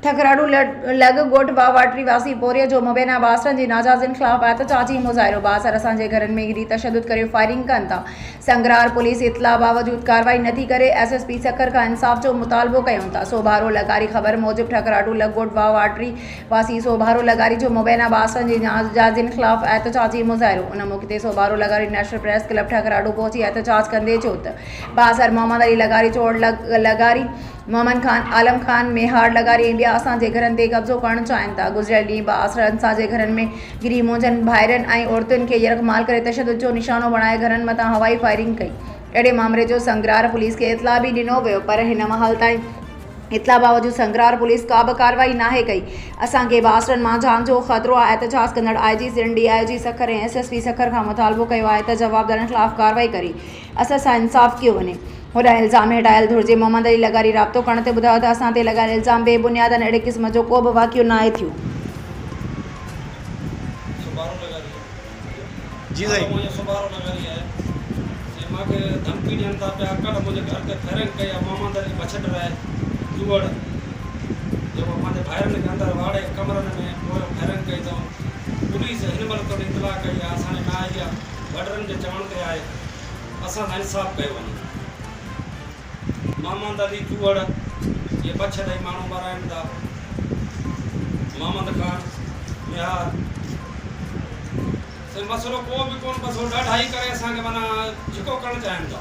ٺڪراڻو لڳ ڳوٺ باواٽري واسي پورهيي جو مبينا باسرن جي ناجائزين خلاف احتجاجي مظاهرو، باسر اسان جي گهرن ۾ گهري تشدد ڪري فائرنگ ڪن ٿا، سنگرار پوليس اطلاع باوجود ڪارروائي نٿي ڪري، ايس ايس پي سکر کان انصاف جو مطالبو ڪيون ٿا، سوڀارو لغاري خبر موجب ٺڪراڻو لڳ ڳوٺ باواٽري واسي سوڀارو لغاري جو مبينا باسرن جي ناجائزين خلاف احتجاجي مظاهرو ان موقعي تي سوڀارو لغاري نيشنل پريس ڪلب ٺڪراڻو پهچي احتجاج ڪندي چيو ته باسر محمد علي لغاري چوڙ لغاري محمد خان، عالم خان ميهاڙ لغاري ۽ ٻيا اسان جي گهرن تي قبضو ڪرڻ چاهين ٿا. گذريل ڏينهن به آسرا انصار جي گهرن ۾ گهري منهنجن ڀائرن ۽ عورتن کي يرغمال ڪري تشدد جو نشانو بڻائي گهرن مٿان هوائي فائرنگ ڪئي. اهڙي مامري جو سنگرار پوليس کي اطلاع به ڏنو ويو پر هن مهل تائين اطلاع باوجود سنگرار پوليس ڪا به ڪارروائي ناهي ڪئي. اسان کي به آسرن مان جان جو خطرو آهي، احتجاج ڪندڙ I G Sindh, D I G Sukkur ۽ S S P Sukkur کان مطالبو ڪيو آهي ته جوابدارن خلاف ڪارروائي ڪري اسان سان انصاف ڪيو وڃي. هوڏانهن الزام هٽايل ڌرجي محمد علي لغاري رابطو ڪرڻ تي ٻڌايو ته اسان تي لڳايل الزام بي بنياد آهن اهڙي قسم جو ڪو به واقعو ناهي ٿيو. وڏڙن جي چوڻ تي آهي اسان سان انصاف ڪيو وڃي. محمد علي چوهڙ اهي بڇ ڏئي ماڻهو مارائين ٿا. محمد خان ميهار سائين مسئلو ڪو به ڪون بس هو ڏاڍائي ڪري اسان کي معنيٰ جهڪو ڪرڻ چاهين ٿا.